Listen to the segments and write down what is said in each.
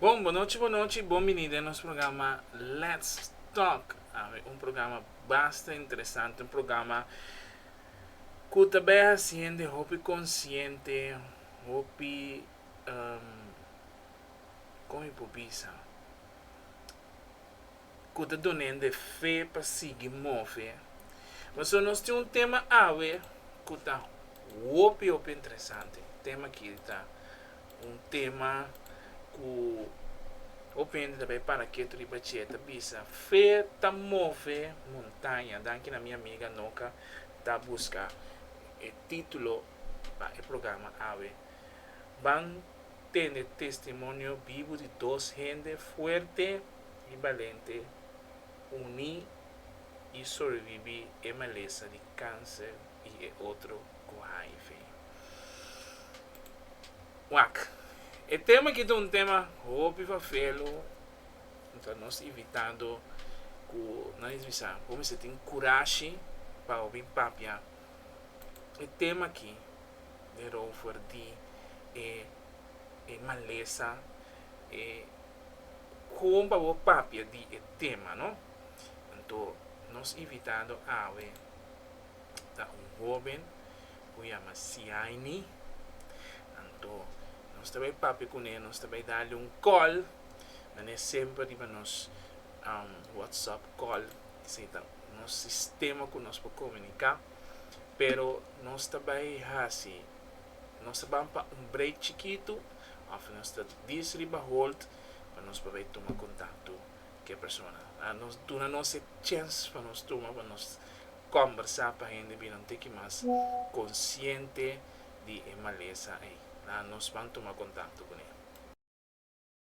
Bon bonochi bonochi bon bini den nos programa let's talk awe un programa basta interesante un programa ku ta bai hasi hende hopi konsiente. hopi con mi por bisa cu ta duna nan e fe pa sigui move pasobra nos tin un tema awe cu ta hopi hopi interesante tema kiri ta un tema cu hopi hende ta bai para ketu riba ce ta bisa fe ta move montaña danki na mi amiga Noca ta busca e titulo pa e programa awe. Ban tene testimonio bibu di dos hende fuerte i balente uní i sobreviví e malesa di kanser i e otro ku hiv. Wak. E tema aki ta un tema hopi fafelu, ta nos invitado ku nan es bisa por mester tin kurashi pa hopi papia. e tema aki den rover di e e malesa e kon pa bo papia di e tema no anto nos invitado awe ta un hoben ku yama Siaini anto nos ta bai papia kune nos ta bai dale un kòl mane semper riba nos whatsapp kòl. nos sistema ku nos por komuniká, pero nos ta bai hasi, nos ta ban pa un break chikitu òf nos ta dis riba hold pa nos por bai tuma kontakto ku e persona. A nos duna nos e chèns pa nos tuma pa nos kòmbersá pa hende bira un tiki mas konsiente di e malesa ei. Nos ban tuma kontakto kuné.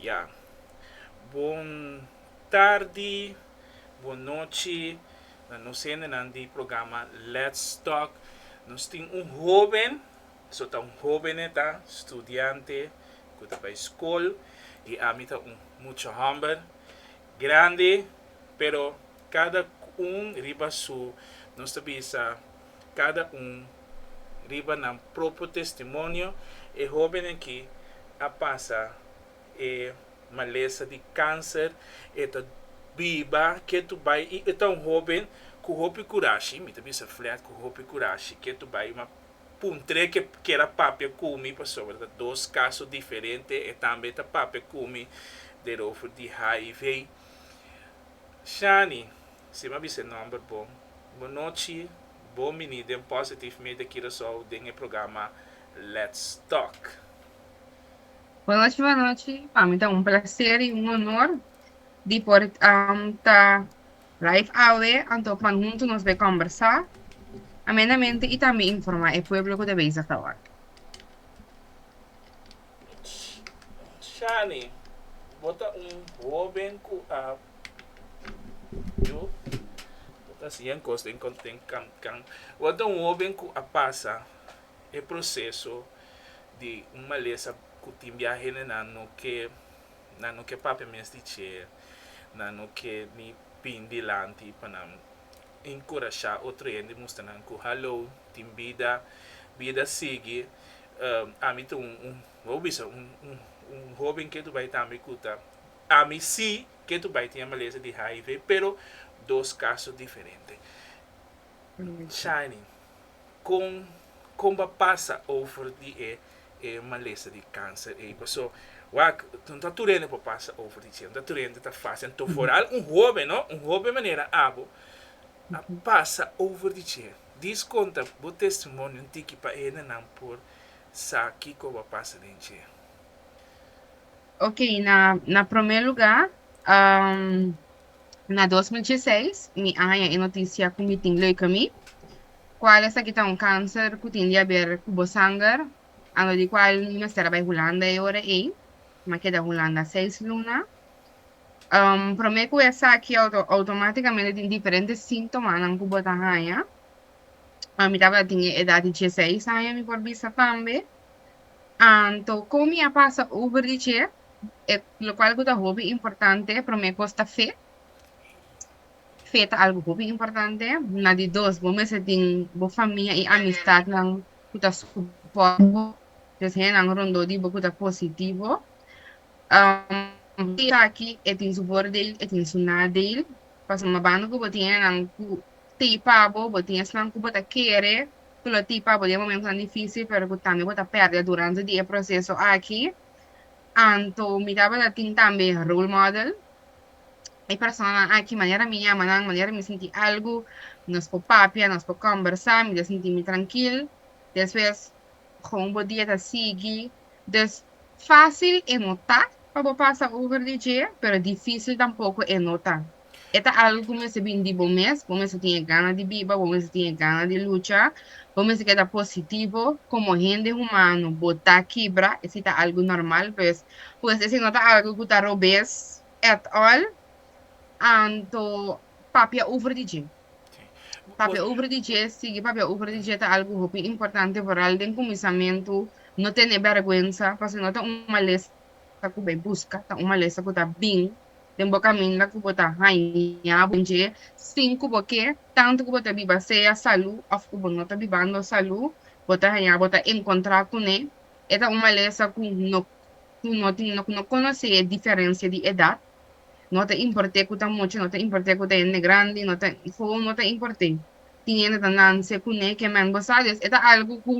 Ya. Bon tardi, bon nochi na nos hendenan di programa Let's Talk. Nos tin un hoben, su ta un hobene ta, studiante ku ta bai skol, i ami ta un mucha hòmber grandi, pero kada un riba su nos ta bisa cada un riba nan propio testimonio e hobennan aki a pasa e malesa di cancer e ta biba ke tu bai y e ta un hoben cu hopi curashi mi ta bisa flat cu hopi curashi ke tu bai ma puntre ke kier a papia cu mi pasobra ta dos caso diferente e tambe ta papia cu mi derover di hiv Shani Si m'a bisa e nòmber bo. Bunochi, Bo mini den Positive Media Curaçao den e programa Let's Talk. Bunochi bunochi, pa mi ta un placer y un honor di por ta live awe anto pa hunto nos bai combersa amenamente y tambe informa e pueblo cu ta bezig ta ora. Shani, Bo ta un hoben cu a Yu lo ta siña un kos den Kankan. Wak ta un hóben ku a pasa e proseso di un malesa ku tin bia hendenan no ke, nan no ke papia mes di dje, nan no ke ni bin dilanti pa nan enkurashá otro hende i mustra nan ku haló, tin bida, bida sigui. Ami ta un, bo a bisa, un hóben ke tu bai tambe ku ta. ami si ke tu bai tin e malesa di hiv pero dos kaso diferente. Shiny kon kon bo a pasa over di e e malesa di kanser ei paso wak no ta tur hende por pasa over di cien no ta tur hende ta fasil anto foral un hoben no un hoben manera abo a pasa over di cien dis konta bo testimonio un tiki pa hendenan por sa kiko bo a pasa den cien. Ok na na prome luga um, na dos mil dieseis mi a haña e notisia ku mi tin leuke mi kual esaki ta un kanser ku tin di haber ku bo sanger anto di kual mi mester a bai Hulanda e ora ei mi a keda Hulanda seis luna um prome ku esaki auto automaticamente tin diferente sintomanan ku bo ta haña mi tabata tin e edad di dieseis aña mi por bisa tambe. Anto, kon mi a pasa over di dje, e lokual ku ta hopi importante? Promé kos ta fe. Fe ta algu hopi importante. Na di dos, bo mester tin bo famia i amistatnan ku ta supòrt bo, des hènnan rondó di bo ku ta positivo. Fe aki e tin su bòrdel, e tin su nadel, pasobra banda ku bo tin hènnan ku tei pa bo, bo tin esnan ku bo ta kere ku lo tin pabo di e momentonan difísil pero ku tambe bo ta pèrdè durante di e proseso aki. Anto mi tabata tin tambe role model. E personanan aki manera mi yama nan, manera mi sinti algu, nos por papia, nos por kòmbersá, mi ta sinti mi trankil. Despues kon bo dia ta sigui. Dus, fásil e notá pa bo pasa over di dje, pero difísil tampoko e nota. E ta algu ku mester bin di bo mes. Bo mester tin e gana di biba, bo mester tin e gana di lucha, bo mester keda positivo. Komo hende humano bo ta kibra, e si ta algu normal pues. Pues e si no ta algu ku ta robes at all, anto papia over di dje. Papia over di dje, sigui papia over di dje ta algu hopi importante vooral den kuminsamentu. No tene bèrgwensa, pasobra no ta un malesa ku bai buska, ta un malesa ku ta bin. den bo kaminda ku bo ta haña bo dje sin ku bo ke, tantu ku bo ta biba sea salú òf ku bo no ta bibando salú, bo ta haña bo ta enkontrá kuné. E ta un malesa ku no ku no tin no ku no konosé e diferensia di edat. No ta import'é ku ta mucha, no ta import'é ku ta hende grandi, no ta hou no ta import'é. Tin hende ta nanse kuné ke mèn bo sa. Des e ta algu ku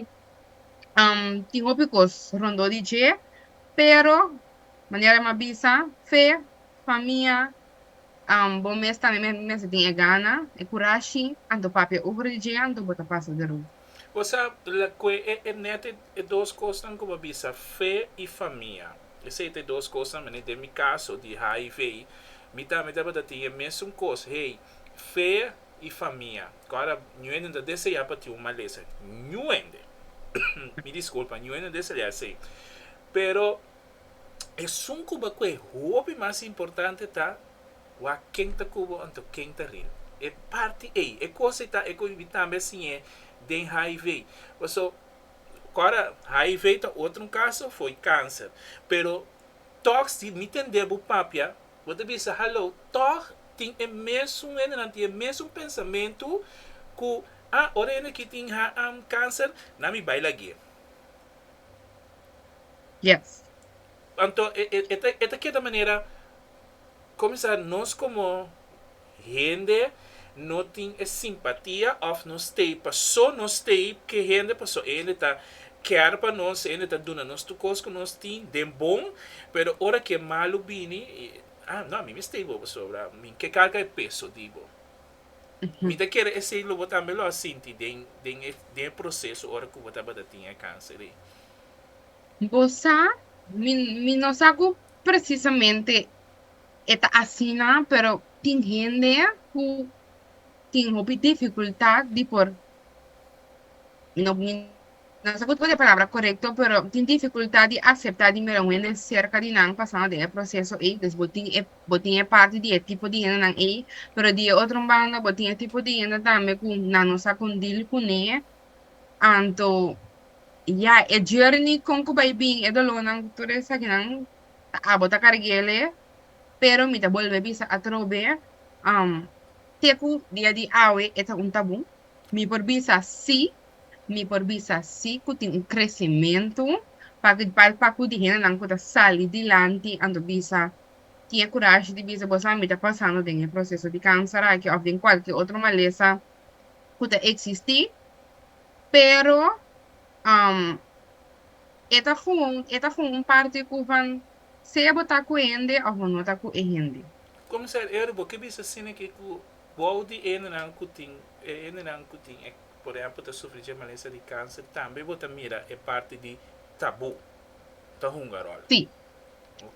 tin hopi kos rondó di dje, pero Manera m'a bisa, Fe, pa mi a, um bo mes tambe me mester tin e gana, e kurashi, anto papia uvru di dje anto bo ta pasa di ru. Bo sa lakue e e nete e dos kosnan ku bo bisa, Fe i famia. Esei ta e dos kosnan manera den mi kaso di HIV, mi tambe tabata tin e mesun kos hei, Fe i famia. Kòrda ñuende no ta deseá pa tin un malesa. Ñuende! Mi diskulpa, ñuende no deseá esei. Pero esun cu bo coe hopi mas importante ta wak ken ta cu bo anto ken ta rin. E parti ey, e cos ey ta e cu mi tambe a siñe den hiv. Paso, ora hiv ta otro un caso, fo'i cancer. Pero toch si mi tende bo papia, bo ta bisa, hallo, toch tin e mesun hendenan tin e mesun pensamentu cu, ah, ora hende aki tin cancer, nan mi bay lagu'e. Yes. Anto e e e ta keda manera comisa nos como hende no tin e simpatia of no stay paso no stay ke hende paso e hende ta care pa nos e hende ta duna nos tur cos cu nos tin den bon pero ora ke malu bini ah no a mi mi stay bo pasobra mi ke carga e peso di bo. Mi ta kere esei lo bo tambe lo a sinti den den e den e proseso ora ku bo tabata tin e kanser ei. Bo sa, mi mi no sa ku presisamente e ta asina, pero tin hende ku tin hopi difikultat di por, mi no. Nos a put oja palabra korekto, pero tin difikultat di aseptá di mira un hende serka di nan pasando den e proseso ei. Pues bo tin e, bo tin e parti di e tipo di hendenan ei, pero di e otro banda bo tin e tipo di hende tambe ku nan no sa kon dil kuné. Anto, ya, e journey kon ku bai bin, e dolónan ku tur esakinan ta abo ta karguele, pero mi ta bolbe bisa atrobe, te ku dia di awe e ta un tabú. Mi por bisa sí, Mi por bisa sí cu tin un crecemento, paki'd pa e pacu di hendenan cu ta sali dilanti a nto bisa, tin e curashi di bisa, Boso a mi ta pasando den e proceso di cancer aki of den cualkier otro malesa cu ta existi, pero e ta gewoon, e ta gewoon un parti cu van sea bo ta cu e hende of bo no ta cu e hende. Comisario Eric, bo ke bisa scene aki cu bou di hendenan cu tin, e hendenan cu tin e. Por ehempel ta sufri dje malesa di kanser tambe bo ta mira e parti di tabu ta hunga ròl. Sí.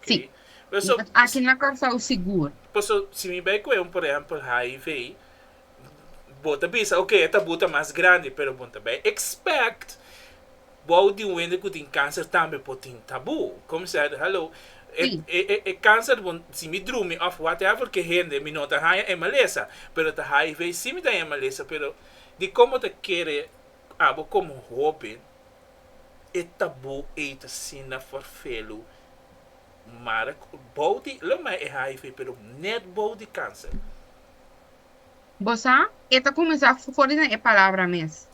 Sí. Paso, Di aki na Kòrsou sigur. Paso si mi bai ku e un por ehempel hiv bo ta bisa ok e tabu ta mas grandi pero bo ta bai expect Wou di un hende ku tin kanser tambe por tin tabú. Kòm sèt, hallo, e Sí. e e e kanser bon si mi drumi òf whatever ke hende mi no ta haña e malesa, pero ta hiv sí mi ta haña e malesa, pero dikon bo ta kere abo komo hóben e tabú ei ta asina farfelu mara ku bou di lo mai e hiv pero nèt bou di kanser? Bo sa, e ta kuminsá for di nan e palabra mes.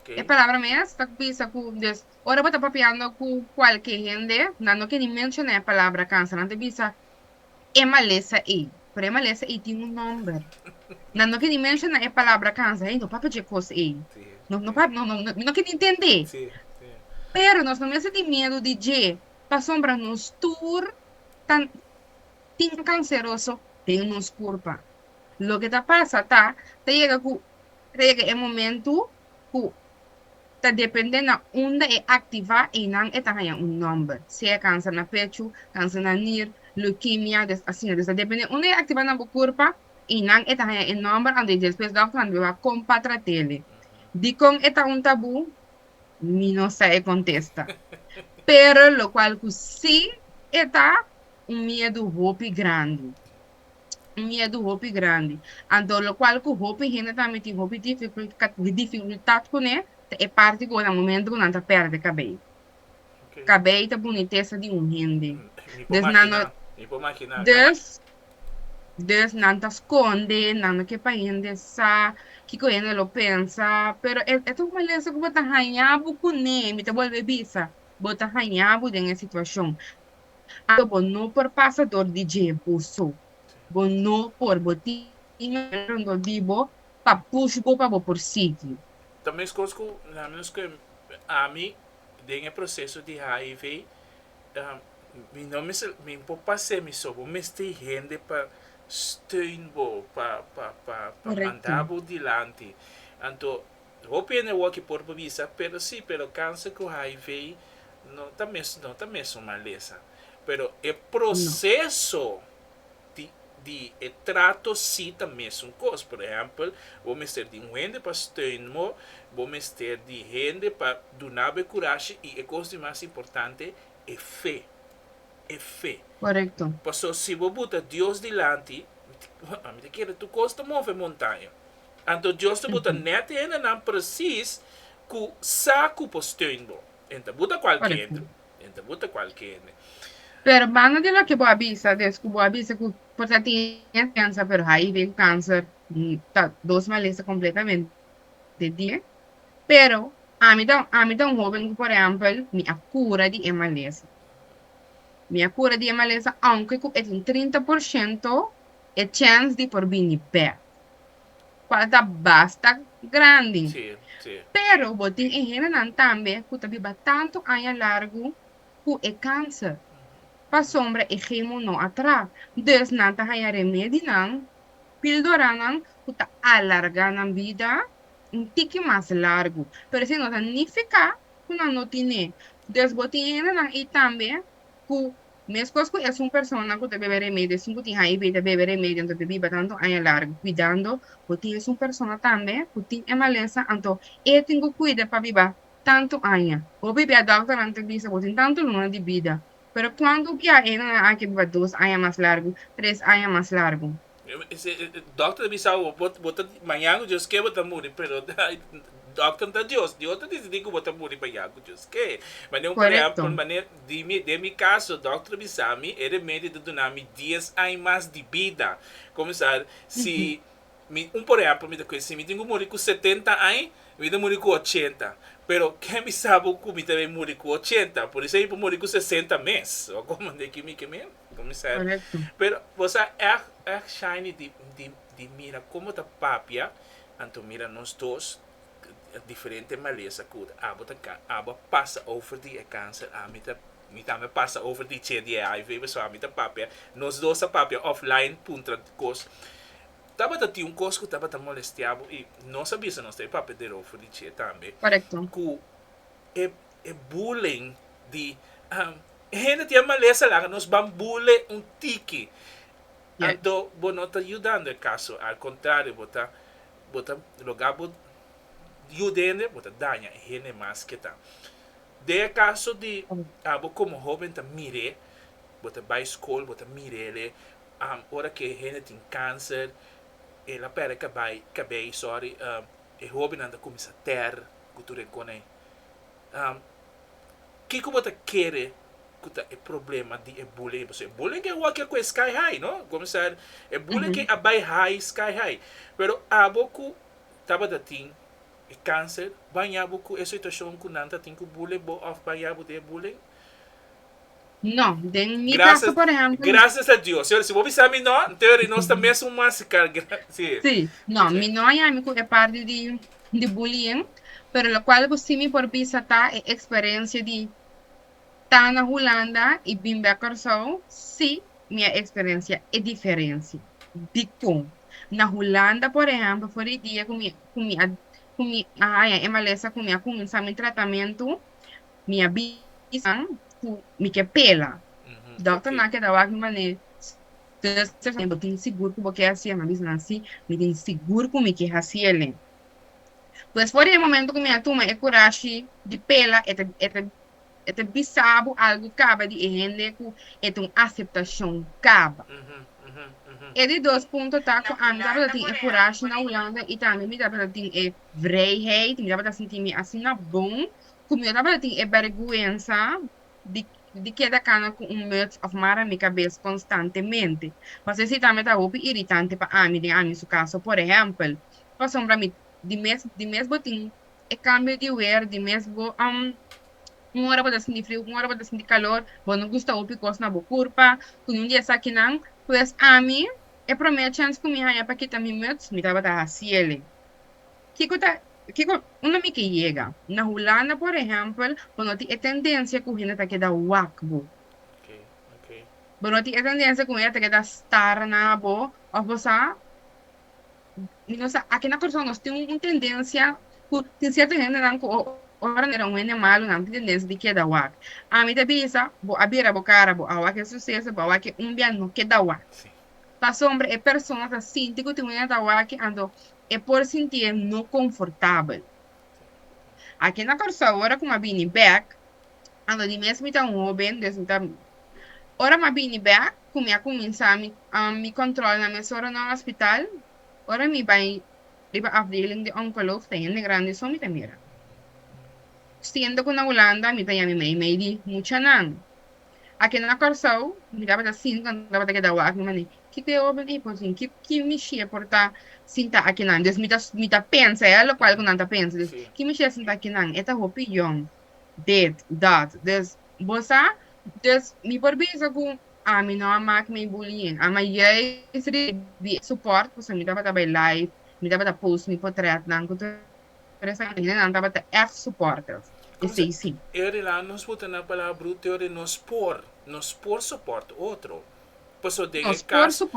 E palabra mes ta bisa ku, dus, ora bo ta papiando ku kualke hende, nan no ke ni menshoná e palabra kansa, nan ta bisa, E malesa ei. Pero e malesa ei tin un nòmber. Nan no ke ni menshoná e palabra kansa, ei no papia dje kos ei. No, no papia, no, no, mi no ke ni ntendé. Pero nos no mester tin miedu di dje, pasobra nos tur ta tin kanseroso den nos kurpa. Loke ta pasa ta, ta yega ku ta yega e momentu ku ta depende na unda e aktivá einan e ta haña un nòmber, sea kansa na pechu, kansa na nir, leukemia, des asina. Des ta depende unda e aktivá na bo kurpa, einan e ta haña e nòmber anto despues dòkternan ta biba kon pa trat'e. Dikon e ta un tabú? Mi no sa e kontesta. Pero lokual ku sí e ta un miedu hopi grandi. un miedu hopi grandi. Anto lokual ku hopi hende ta miti hopi difikultat kuné ta e parti ku ora momentu ku nan ta pèrdè kabei. Kabei ta bunitesa di un hende. Des nan no des des nan ta skonde, nan no ke pa hende sa kiko hende lo pensa. Pero e ta un malesa ku bo ta haña bo kuné. Mi ta bolbe bisa, bo ta haña bo den e situashon. Anto bo no por pasa dor di dje bo so. Bo no por, bo tin manera rondó di bo pa push bo pa bo por sigui. Ta meskos ku la menos ke ami den e proseso di hiv mi no mester mi por pas'é mi so. Bo mester hende pa steun bo pa pa pa manda bo dilanti. Anto Hopi hende awor ki por bisa, pero si, pero kanser ku hiv no ta mes, no ta mes un malesa. Pero e proseso di di e trato si ta mes un kos. Por ehèmpel, bo mester di un hende pa steun bo, bo mester di hende pa duna bo e kurashi i e kos di mas importante, e fe. E fe. Korekto. Paso si bo buta Dios dilanti, mi ta kere tur kos ta move montaña. Anto Dios ta buta net hendenan presis ku sa ku por steun bo. N ta buta kualke hende. N ta buta kualke hende. Pero banda di loke bo a bisa, des ku bo a bisa ku por ta tin esperensa, pero HIV ku kanser ta dos malesa kompletamente difente. Pero ami ta, ami ta un hoben ku por ehèmpel mi a kura di e malesa. Mi a kura di e malesa, ounke ku e tin trinta por shento e chèns di por bini bèk. cual ta basta grandi. Pero bo tin e hendenan tambe cu ta biba tanto aña largu cu e cancer, pasobra e chemo no a tra. Dus nan ta haya remedinan, pildoranan, cu ta alarga nan bida un tiki mas largu. Pero esei no ta nifica cu nan no tin e. Dus bo tin e hendenan ei tambe cu. Meskos ku esun persona ku ta bebe remedio, esun ku tin HIV ta bebe remedio anto ta biba tantu aña largu kuidando. Bo tin esun persona tambe ku tin e malesa anto e tin ku kuida pa biba tantu aña. Bo bibi a dòkternan ta bisa bo tin tantu luna di bida, pero kuantu biaha e nan a aki biba dos aña mas largu, tres aña mas largu? Doctor ta bisa bo, bo ta maña cu Dioske bo ta muri, pero doctor no ta Dios, Dios ta dicidi cu bo ta muri maña cu Dioske. Manera un Correcto. Manera den mi caso doctor a bisa mi e remedio ta duna mi dies aña mas di bida, comenzar si mi un por ejemplo mi ta kee si mi tin cu muri cu setenta aña mi ta muri cu ochenta, pero ken a bisa bo cu mi ta bay muri cu ochenta? Por eso mi por muri cu sesenta mes, o como? Deki mi ke mi. Correcto. Pero bo sa echt echt shiny di di di mira con bo ta papia anto mira nos dos diferente malesa cu abo ta ca abo a pasa over di e cancer ami ta mi tambe a pasa over di che di e hiv pasobra ami ta papia nos dos ta papia offline puntra cos tabata tin un cos cu tabata molestia bo y nos a bisa nos ta papia derover di che tambe Correcto. cu e e bullying di e hende tin a malesa laga nos ban bule un tiki anto bo no ta yudando e kaso al kontrario bo ta bo ta loga bo yuda e hende bo ta daña e hende mas ke ta den e kaso di abo komo hoben ta mir'é bo ta bai skol bo ta mir'ele ora ke e hende tin kanser el a pèrdè kabay kabey sòri e hobennan ta kuminsá tèr ku tur e koney. Am, Kiko bo ta kere ku ta e problema di e bullying? Pasobra e bullying ke wak ya ku e sky high, no? Comenzar, e bullying ke a bai high, sky high. Pero abo ku tabata tin e kanser, baña bo ku e situashon ku nan ta tin ku bullen bo òf baña bo den e bulling? No, den mi caso por ejemplo. Gracias a Dios, si bo bisa mi no, nte ora nos ta mes un masical grandi. Sí, no, mi no a yami cu e parti di bullying, pero locual bo si mi por bisa ta e experencia di ta na Hulanda y bin bek Corsou, si, mi a experencia e diferencia. Dicon? Na Hulanda por ejemplo, for di dia cu mi a haya e malesa cu mi a cuminsa mi tratamento, Mi a bisanan ku mi ke pela. Dòkternan keda wak mi manera, Zuster, si bo tin sigur ku bo ke hasi e, mi a bisa nan si. Mi tin sigur ku mi ke hasi el'e. Pues for di e momento ku mi a tuma e kurashi di pela, e ta e ta bisa bo algu kaba di e hende ku e ta un aseptashon kaba. E di dos punto ta ku ami tabata tin e kurashi na Hulanda i tambe mi tabata tin e vrijheid, mi tabata sinti mi asina bon Ku mi tabata tin e bèrgwensa di keda kana ku un muts òf mara mi kabes konstantemente. Pas esei tambe ta hopi iritante pa ami den ami su kaso. Por ehèmpel, pasobra mi di mes di mes bo tin e kambio di wer, di mes bo un ora bo ta sinti friu, un ora bo ta sinti kalor, bo no gusta hopi kos na bo kurpa ku yun di esakinan. Pues ami, e promé chèns ku mi haña pa kita mi muts, mi tabata hasiel. Kiko ta kiko un ami ke yega? Na Hulanda por ehempel bo no tin e tendensia ku hende ta keda wak bo. Bo no tin e tendensia ku hende ta keda stara na bo òf bo sa mi no sa aki na Kòrsou nos tin un tendensia ku tin sierto hendenan ku ora nan mira un hende malu nan tin tendensia di keda wak. Ami ta bisa bo a bira bo kara bo a wak e suseso bo a wak e un bia no keda wak. Pasobra e persona ta sinti ku tin un hende ta wak anto e por sinti e no konfortabel. Aki na Kòrsou, ora ku mi a bini bèk, a lo di mi esta mi ta un hóben, dus mi ta Ora mi a bini bèk, ku mi a kuminsá mi mi kòntròl na mi asòru na un ospital, ora mi bai riba afdeling di onkolog, ta hende grandi so mi ta mira. Siendo ku na Hulanda mi ta yami meimei di muchanan, Aki na Kòrsou, mi tabata sinta, mi tabata keda wak, mi mane, kiko e oben ei por sin? Ki, ki mishia por ta sinta akinan? Des mi ta, mi ta pensa, e lokual ku nan ta pensa. Des, ki mishia sinta akinan? E ta hopi yòn, dit, dat. Des, bo sa? Des, mi por bisa ku ami no a mak mi bullying. Ama yais risibi e sopòrt, pasobra mi tabata bai live, mi tabata post mi potrètnan ku. Tres harinan tabata èf supòrter e sei sí. E harinan nos puta na palabra bruto oor nos por, nos por soport otro. Paso den e caso,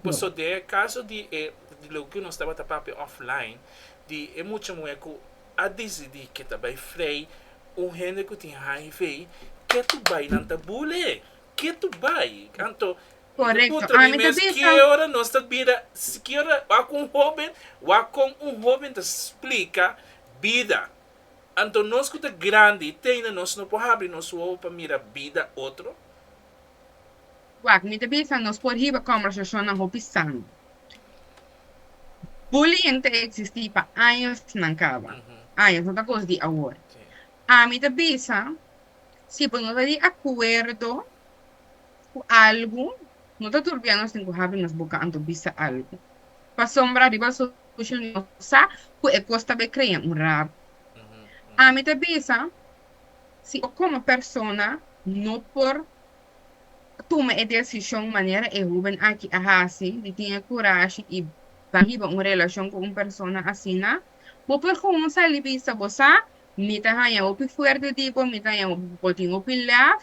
paso den e caso di e, di lo cu nos tabata papia offline, di e mucha muher cu a dicidi que ta bay vrij un hende cu tin hiv, ke tu bay nan ta bul'e, ke tu bay. Anto Correcto. Ami ta bisa. Skier ora nos ta bida skier ora wak un hoben wak con un hoben ta splica bida anto nos cu ta grandi teina nos no por habri nos wowo pa mira bida otro? Wak mi ta bisa nos por hiba combersacionnan hopi sano. Bullying ta existi pa añosnan caba, años no ta cos di awor. Ami ta bisa si bo no ta di acuerdo. Ku algu, no ta tur bianos den ku habi nos boka anto bisa algu. Pasobra riba soshal media no sa ku e kos ta bai krea un rabi. Ami ta bisa si bo komo persona no por tuma e desishon manera e hóben aki a hasi di tin e kurashi i bai hiba un relashon ku un persona asina, bo por gewoon sali bisa bo sa, mi ta haña hopi fuerte di bo, mi ta haña bo tin hopi lèf,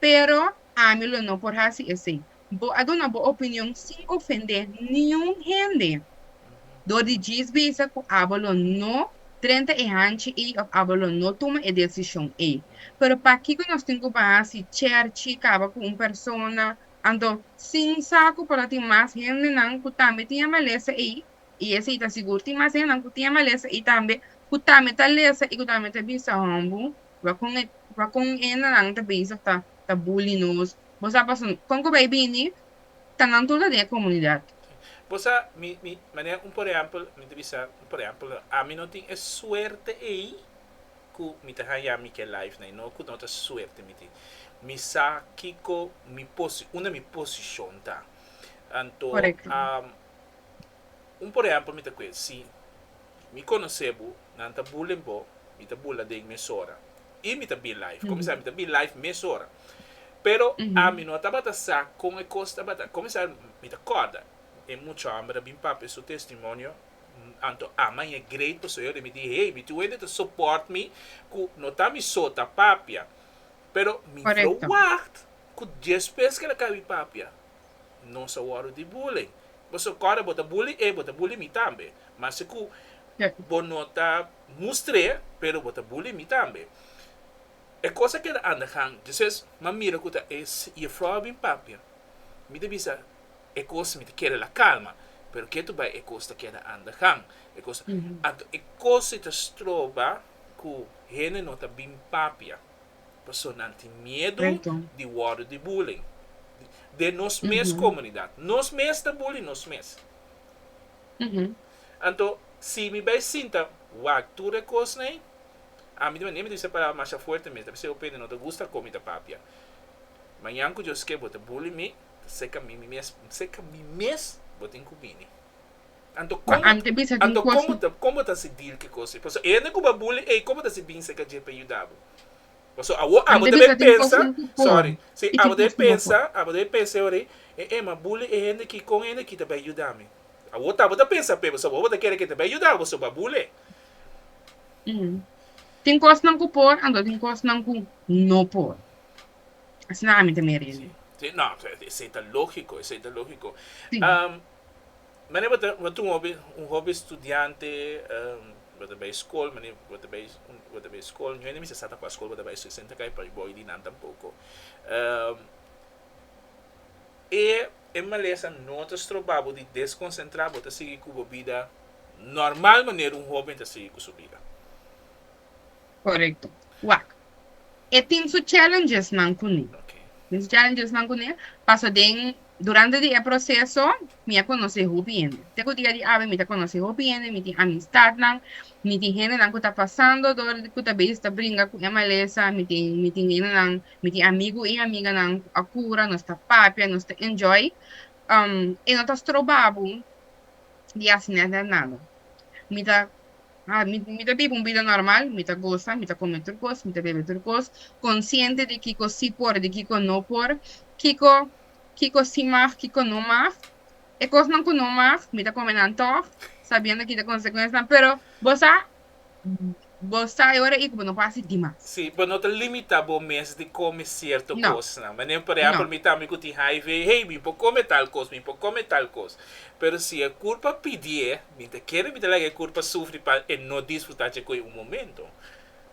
Pero ami lo no por hasi esei. Bo a duna bo opinion sin ofendé niun hende. Dor di djis bisa ku abo lo no drenta e hanchi ei òf abo lo no tuma e desishon ei. Pero pakiko nos tin ku baha si Cherchi kaba ku un persona? Anto, sin sa ku por ta tin mas hendenan ku tambe tin e malesa ei, i esei ta sigur tin mas hendenan ku tin e malesa ei tambe, ku tambe ta lesa i ku tambe ta bisa, Hòmbu, Wacon e hennennan ta bezig ta ta bully nos. Bo sa paso no. Con cu bay bini ta nan tur ta den e comunidad. Bo sa mi mi manera un por ehempel mi ta bisa un por ehempel ami no tin e suerte ey cu mi ta haya mi ke life na y no cu no ta suerte mi tin. Mi sa kico mi posi unda mi posicion ta anto Correcto. am un por ehempel mi ta cu e si Mi conoce bo, nan ta bullen bo, mi ta bula den mesora. Y mi ta be life. Comenzar mi ta be life mesora. Pero ami no tabata sa con e cos tabata. Comenzar mi ta corda e mucha homber a bin papia su testimonio anto ama y e great pasobra yo remite y hey, mi tin wende ta support mi cu no ta mi so ta papia. Pero mi lo wacht cu dies pes keda caba mi papia. Nos a wòrdu di bulling. Bo so kòrda bo ta bully e, bo ta bully mi tambe. Mas e ku bo no ta mustr'é, pero bo ta bully mi tambe. E kos a keda anda gan. Djisas m'a mira ku ta e jefrou a bin papia. Mi ta bisa, E kos mi ta keda la kalma. Pero ketu bai e kos ta keda anda gan. E kos, anto e kos ei ta stroba ku hende no ta bin papia. Paso nan tin miedu di wordo di bully. Den nos mes comunidad. Nos mes ta bully nos mes. Anto, si mi bay sinta wak tur e cosnan ey, ami tambe, nemi ta bisa e palabra masha fuerte mes, ta bisa e opene, no ta gusta con mi ta papia. Mañan cu Dios kier bo ta bully mi, ta seca mi mes, seca mi mes bo tin cu bini. Anto komo anto komo ta komo bo ta si deal ki kosi paso e hende ku bo buli ey komo ta si binse ka dje pa yuda bo paso awo abo ta bay pensa sorry si abo ta bay pensa abo ta bay pensa e ora e e ma buli e hende ki kon e hende ki ta bay yuda mi awo ta bo ta pensa p'e paso abo ta kere ke ta bay yuda bo so bo a buli tin kosnan ku por anto tin kosnan ku no por asina ami ta mira esei ta logiko esei ta logiko. Mane bo ta tuma hopi un hopi studiante bo ta bai skol mane bo ta bai bo ta bai skol nihuen ta mester sa ta kua skol bo ta bai so esei ta kai pa bo y di nan tampoko e e malesa no ta stroba bo di deskonsentra bo ta sigui ku bo bida normal maner un hoben ta sigui ku su bida. Korekto. Wak, e tin su challengesnan kuné. Tin su challengesnan kuné, paso den durante di e proseso mi a konosé hopi hende. Te ku dia di awe mi ta konosé hopi hende, mi tin amistatnan, mi tin hendenan ku ta pasando dor ku ta bes ta bringa ku e malesa, mi tin mi tin hendenan, mi tin amigu i amiganan ku a kura, nos ta papia, nos ta enjoy. E no ta stroba bo di hasi nada nada. Mi ta. Ha, mi, mi ta biba un bida normal, mi ta gosa, mi ta kome tur kos, mi ta bebe tur kos, konsiente di kiko sí por, di kiko no por, kiko, kiko sí mag, kiko no mag. E kosnan ku no mag, mi ta kome nan tòg, sabiendo kita konsekuensnan, pero bo sa, bo sa e ora ei ku bo no por hasi dimas. Sí, bo no ta limitá bo mes di kome sierto No. kosnan. Manera, por No. ehèmpel, mi tambe ku tin hiv, hey, mi por kome tal kos, mi por kome tal kos. Pero si e kurpa pidié, Mi ta kere mi ta laga e kurpa sufri pa e no disfrutá dje koe un momento.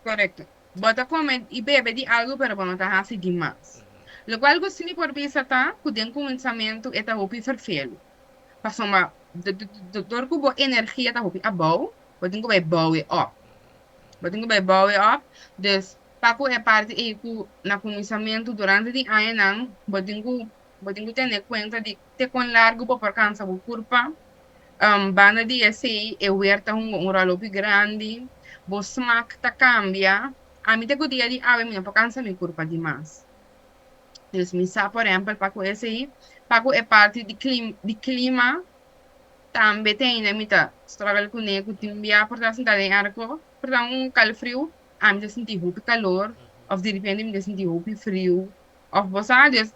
Korekto. Bo ta kome i bebe di algu pero bo no ta hasi di mas. Lokual ku si mi por bisa ta ku den kuminsamentu e ta hopi ferfelu. Pasobra dor ku bo energia ta hopi abou, bo tin ku bai bou e òp. Bo tin ku bai bou e òp. Dus pa ku e parti ei ku na kuminsamentu durante di añanan bo tin ku bo tin ku tene kuenta di Te kon largu bo por kansa bo kurpa? Banda di esei, e wer ta hunga un ròl hopi grandi. Bo smak ta kambia. Ami ta ku dia di awe mi no por kansa mi kurpa di mas. Dus mi sa, por ehèmpel, pa ku esei, pa ku e parti di klim, di klima, tambe tin ainda mi ta strògel kuné, ku tin bia por ta sentá den èrko, por ta un kalfriu, ami ta sinti hopi kalor òf diripente mi ta sinti hopi friu. Of bos a dios,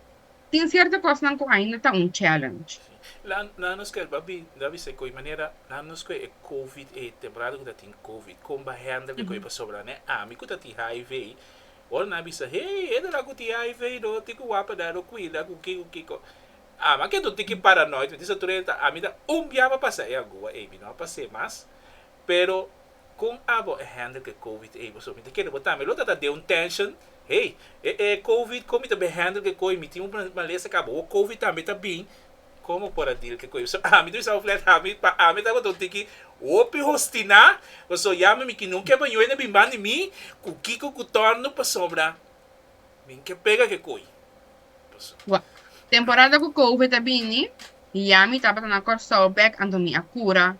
tin cierto cosnan cu ainda ta un challenge. Nan nos cu el babi, nan bisa e coi manera, nan nos cu e covid ey, temporada cu ta tin covid, con ba hender cu e coi pasobra nan e ami cu ta tin hiv ey, ora nan a bisa, hey, e dora cu tin hiv ey no, tin cu wapper nan no cuida, cu ki, cu kico. Ami a keda un tiki paranoid, mi disa tur e ta, ami ta un bia pa pasa e agua ey, mi no a pasa e mas, Pero con abo e handle cu e covid ey boso mi ta kere bota mi lo ta ta den un tension hey e e covid con mi ta bay handle cu e coy mi tin un malesa cu abo covid tambe ta bin como por a deal cu e coy so ami ta bisa bo flat ami pa ami ta tabata un tiki hopi hostina pasobra ya mi mikinan un kebaño ey na bin bandi mi cu kiko cu torno pasobra mi ke pega cu e coy paso. Wak temporada cu covid a bini y ya mi tabata na Corsou bek anto mi a cura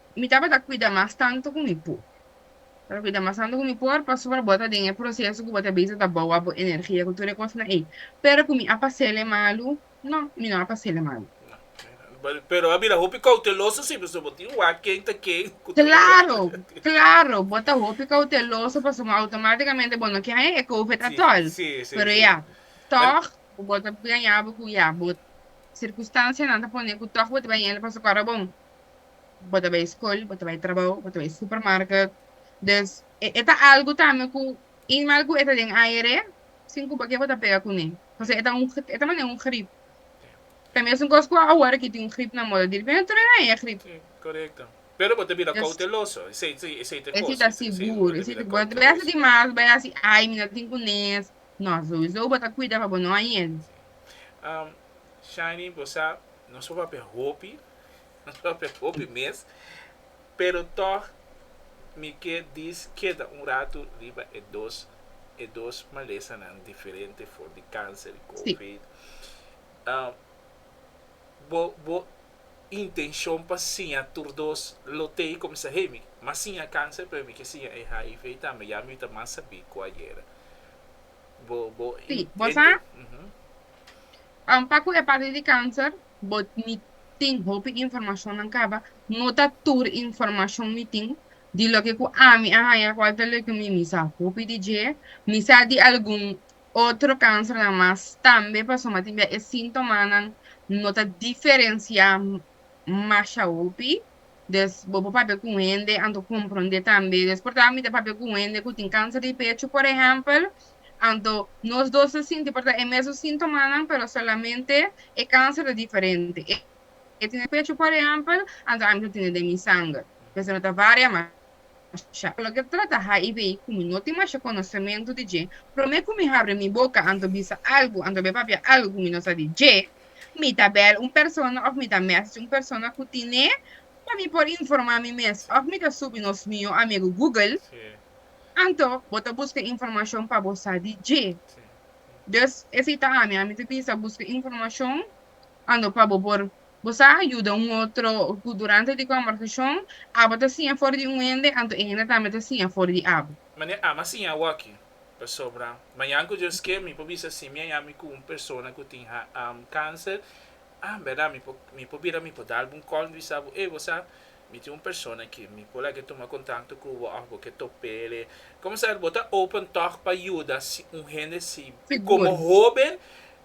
Mi tabata cuida mas tanto cu mi por. Mi tabata cuida mas tanto cu mi por pasobra bo ta den e proceso cu bo ta bisa ta boua bo energia cu tur e cosnan ey. Pero cu mi a pasele malo? No, mi no a pasele malo. Pero a bira hopi cauteloso si pasobra bo tin wak ken ta ken cu tur e cosnan. Claro, claro, bo ta hopi cauteloso pasobra automaticamente bo no ke haña e covid atol. Pero ya, toch bo ta bira ña bo cu ya, bo circunstancianan ta pone cu toch bo ta bira ña el pasobra bon, Bo ta bay scol, bo ta bay trabao, bo ta bay supermarket. Dus e ta algo tambe cu in mal cu e ta den aere, sin cu pakier bo ta pega cune. Pasobra e ta un, e ta mane un grip. Ta mesun cos cu awor aki tin un grip na moda. Diripi no tur e haña e grip. Si, corecto. Pero bo ta bira cauteloso. Esey si, esey ta cos. Esey ta sigur. Esey ta, bo ta bay haci di mas, bay haci, ay, mi no tin cunes. No, souiso bo ta cuida pa bo no haña. Si. Shiny, bo sa, nos papia hopi Lo me hopi mes, pero tòg mi ke dis keda un ratu riba e dos e dos malesanan diferente for di kanser i covid. Bo bo intenshon pa siña tur dos lo te i kuminsá hey mi mas siña kanser pero mi ke siña e hiv tambe ya mi ta mas sabí ku ayera. Bo bo intento. Si bo sa pa ku e parti di kanser Bo mi tin hopi informashonnan kaba, no ta tur informashon mi tin di loke ku ami a haña kual ta loke mi mi sa hopi di dje. Mi sa di algun otro kansernan mas tambe pasobra mi tin bia e síntomanan no ta diferensiá masha hopi. Des bo por papia ku un hende anto komprondé tambe. Des por tabata mi ta papia ku un hende ku tin kanser di pechu, por ehèmpel. Anto, nos dos ta sinti por ta e mesun sintomanan, pero solamente e kanser ta diferente. E tene pechu, por ehèmpel, anto ami ta tene den mi sanger. Mester no ta varia masha. Lo ke trata HIV, ku mi no tin masha konosementu di dje, promé ku mi habri mi boka anto bisa algu, anto be papia algu ku mi no sa di dje, mi ta bèl un persona òf mi ta mèsesje un persona ku tin'é pa mi por informá mi mes, òf mi ta subi nos mihó amigu Google Anto bo ta buska informashon pa bo sa di dje. Dus, esei ta ami, ami ta bisa buska informashon anto pa bo por bo sa yuda un otro ku durante di kòmbersashon abo ta siña for di un hende anto e hende tambe ta siña for di abo. Manera ami a siña awòkki, pasobra mañan ku Dios ke mi por bisa si mi a yami ku un persona ku tin kánser, a bèrdat mi por mi por bira mi por dal bo un kònt di bisa bo, ey bo sa, Mi tin un persona ki mi por lag'e tuma kontakto ku bo òf bo ke top'e. Komo sa bo ta open tòg pa yuda un hende si komo hóben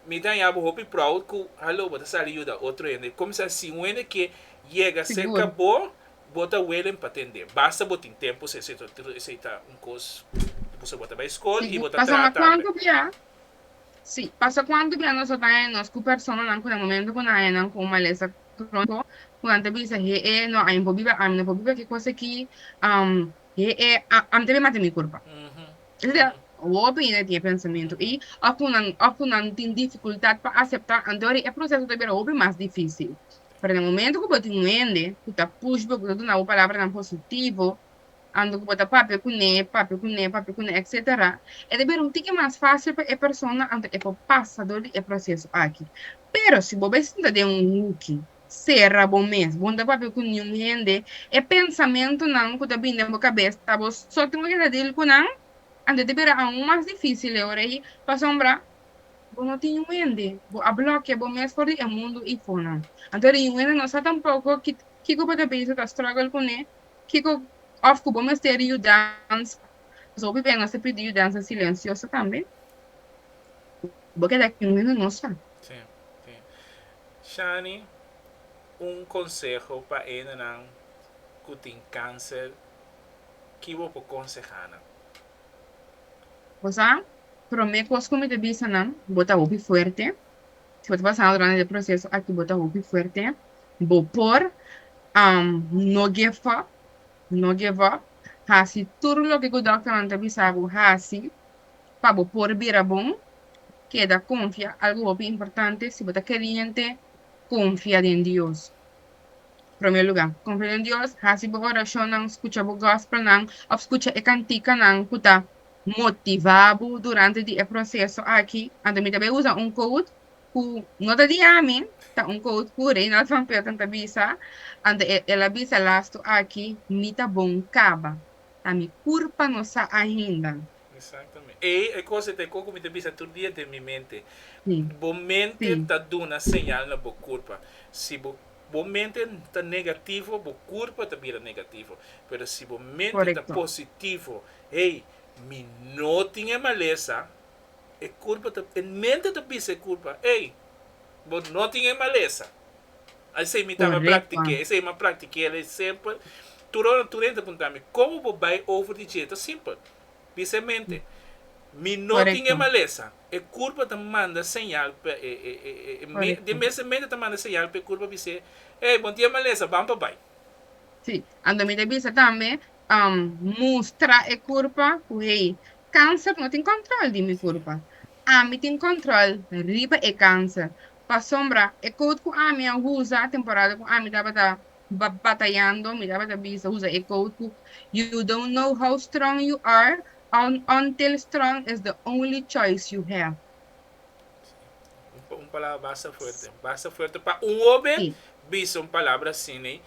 mi ta haña bo hopi proud ku haló bo ta sali yuda otro hende? Komo sa si un hende ke yega serka bo bo ta welen pa tende basta bo tin tempu se se esei ta un kos di por so bo ta bai skol i bo ta traha tambe. Si, pasa kuantu bia nos a bai nos ku personanan ku na momentu ku nan haña nan kon malesa pronto cu nan ta bisa, He'e, no, ami no por biba, ami no por biba ki cos aki, he'e, ami ta bin mata mi curpa. Es a ser, hopi hende tin e pensamiento y of cu nan, of cu nan tin dificultad pa acepta, anto e proceso ta bira hopi mas dificil. Pero na e momento cu bo tin un hende cu ta push bo, cu ta duna bo palabranan positivo, Anto ku bo ta papia ku ne, papia ku ne, papia ku ne, etc. E ta bira un tiki mas fásil pa e persona anto e por pasa dor di e proseso aki. Pero si bo bai sinta den un huki, sera bo mes, bo no ta papia ku niun hende, e pensamentunan ku ta bini den bo kabes ta bo so tingu ke ta deal ku nan, anto e ta bira aun mas difísil e ora ei pasobra bo no tin niun hende, bo a blòkia bo mes for di e mundu i fo nan. Anto riun hende no sa tampoko kiko bo ta bisa, ta struggle ku ne, Kiko òf ku bo mester di yudansa? Pasobra biba e nos ta pidi yudansa silensioso tambe. Bo keda aki un minunosa. Sí, sí. Shani, un konseho pa hendenan ku tin kanser, ki bo por konsehá nan? Bo sa, promé kos ku mi ta bisa nan, bo ta hopi fuerte. Si bo ta pasando durante e proceso aki bo ta hopi fuerte bo por no give up no give up hasi tur loke cu doctornan ta bisa bo hasi pa bo por bira bon keda confia algo hopi importante si bo ta creyente confia den Dios prome lugar confia den Dios hasi bo oracionnan scucha bo gospelnan of scucha e canticanan cu ta motivá bo durante di e proseso aki, anto mi ta bai usa un quote ku no ta di ami, ta un quote ku Reynald van Petten ta bisa, anto e el a bisa lastu aki, Mi ta bon kaba, ta mi kurpa no sa ainda. Exactamente. Ey e cos e ta e coco mi ta bisa tur dia den mi mente. Sí. Bo mente Sí. ta duna señal na bo curpa. Si bo, bo mente ta negativo, bo curpa ta bira negativo. Pero si bo mente ta Correcto. positivo, Hey, mi no tin e malesa, e curpa ta, e mente ta bisa e curpa, hey, bo no tin e malesa. Esey mi taba practiqué, esey m'a practiqué el es simpel. Tur ora tur hende ta punta mi, como bo bay over di dje? Ta simpel. Bisa e mente, mi no tin e malesa. E curpa ta manda señal pa e, e, e, e, e mente, den mes e mente ta manda señal pa e curpa bis'é, hey, bo no tin e malesa, ban pa bay. Sí, anto mi ta bisa tambe, mustra e kurpa ku hey, kanser no tin kòntròl di mi kurpa. Ami tin kòntròl riba e kanser. Pasobra e kout ku ami a usa, temporada ku ami tabata batayando, mi tabata bisa usa e kout ku, You don't know how strong you are until strong is the only choice you have. Un palabra basta fuerte. Basta fuerte pa un hobe sí. bisa un palabra asin ey.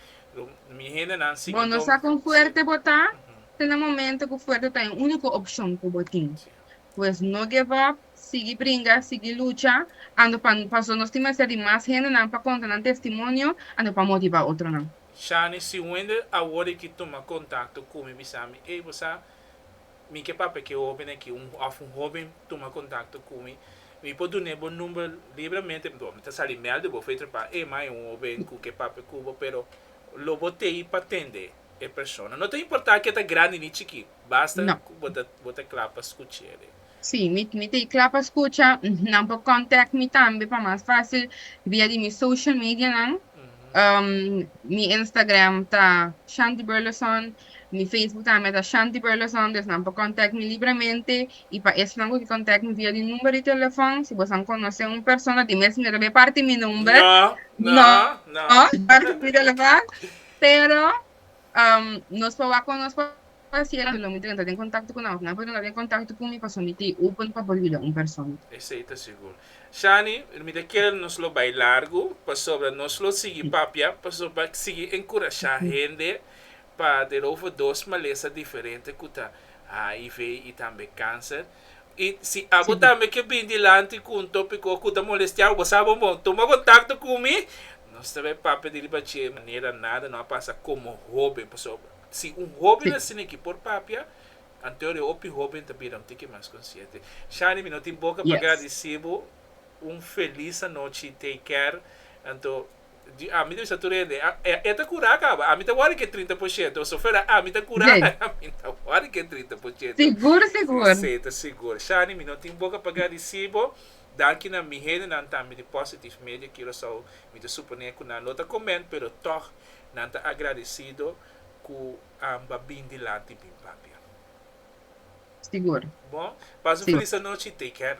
Mi hendenan si. Bo no sa con fuerte bo ta. Uh -huh. Ta na momento cu fuerte ta e unico opcion cu bo tin. Sí. Pues no give up, sigui bringa, sigui lucha, ando pa paso nos tin mester di mas hendenan pa conta nan testimonio, ando pa motiva otronan. Shani, si Wender a worde ki tuma contacto cu mi bisa mi, ey bo sa mi ke papia ke hoben aki un of un hoben tuma kontakto ku mi mi por dun'e bo number libremente bo mi ta sali mel di bo for e trepá e mai un hoben ku ke papia ku bo pero lo bo tei pa tende e persona no ta importá ke ta grandi ni chikí basta No. ku bo ta bo ta kla pa skuch'e. Sí mi mi tei kla pa skucha nan por kòntek mi tambe pa mas fásil via di mi social medianan mi Instagram ta Shanti Burleson Mi Facebook tambe ta Shanti Burleson dus nan por contact mi libremente y pa esnan cu ke contact mi via di number di telefon si bosa conoce un persona di mes manera be parti mi number no be parti mi telefon pero nos por wak con nos pa haciendo lo mi drenta den contacto cu nan of nan por drenta den contacto cu mi paso mi ta open pa por yuda un persona. Esey ta sigur. Shani, mi ta kier nos lo bay largo pasobra nos lo sigui papia pasobra sigui encurasha hende. Pa den over dos malesa diferente ku ta hiv i tambe kanser. I si abo tambe ke bin dilanti ku un topiko ku ta molestiabu bo sa bo bon tuma kontakto ku mi. Nos ta bay papia di riba dje manera nada no a pasa komo hoben paso si un hoben asin aki por papia anteo de hopi hoben ta bira un tiki mas konsiente. Shani mi no tin boka pa gradisibu un felis anochi take care anto di ami ta bisa tur hende, e ta curá caba, ami ta worry cu e trinta por ciento, pasobra fuera ami ta curá, ami no ta worry cu e trinta por ciento. Sigur, sigur. Sí, ta sigur. Shani, mi no tin boca pa gadi si bo. Danki na mi hendenan tambe di Positive Media Curaçao, mi ta suponé cu nan lo ta comment, pero tog nan ta agradecido cu anba bin dilanti bin papia. Sigur. Bon, pasa un Sí. feliz anochi y take care.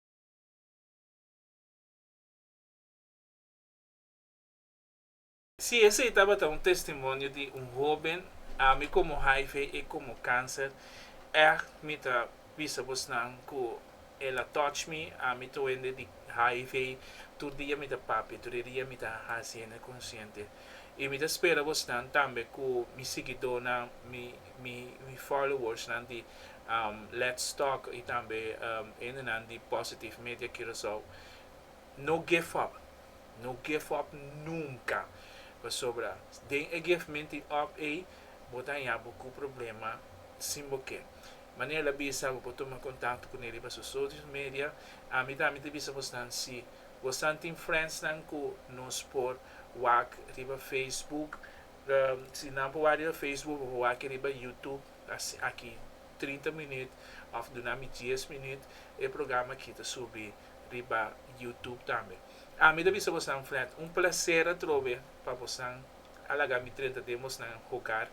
Si esei tabata un testimonio di un hoben, ami komo hiv y e komo kanser, ègt mi ta bisa bosnan ku el a touch mi, ami ta wende di hiv tur dia mi ta papia, tur e dia mi ta hasi hende konsiente. Y mi ta spera bosnan tambe ku mi siguidónan, mi. mi mi followersnan di um Let's Talk y tambe um hendenan di Positive Media Curaçao, no give up, no give up nunca, pasobra den e give menti up ey bo ta haña bo cu problema sin bo ke. Mane el a bisa bo por tuma contacto cu ne riba su socios media, ami tambe ta bisa bosnan si bosnan tin friendsnan cu nos por wak riba Facebook, Si nan por wak riba Facebook o por wak riba YouTube aki trinta minüt of duna mi dies minüt e programa aki ta subi riba YouTube tambe. Ami ta bisa bosnan Fred un placer atrobe pa bosnan a laga mi drenta den bosnan en hogar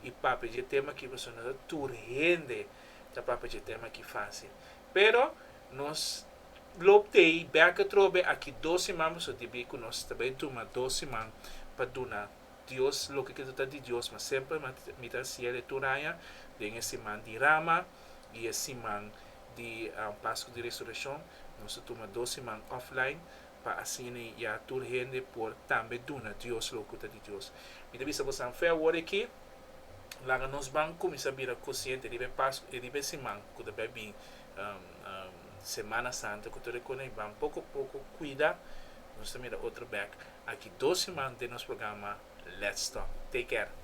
y papia dje tema aki pasobra no ta tur hende ta papia dje tema aki facil pero nos Globe Day bèk atrobe aki dos siman pasobra tin bia ku nos ta bai tuma dos siman pa duna Dios loke ke ta ta di Dios mas semper mi ta haciel e tur aña den e siman di Rama i e siman di Pasku di Resurekshon nos ta tuma dos siman offline pa asina ya tur hende por tambe duna Dios loke ku ta di Dios. Mi ta bisa boso anfè awor aki laga nos ban kuminsá bira konsiente riba e Pasku riba e siman ku ta bai bin Semana Santo cu tur e cona y ban poco poco cuida nos ta mira otro bek aki dos siman den nos programa Let's Talk take care.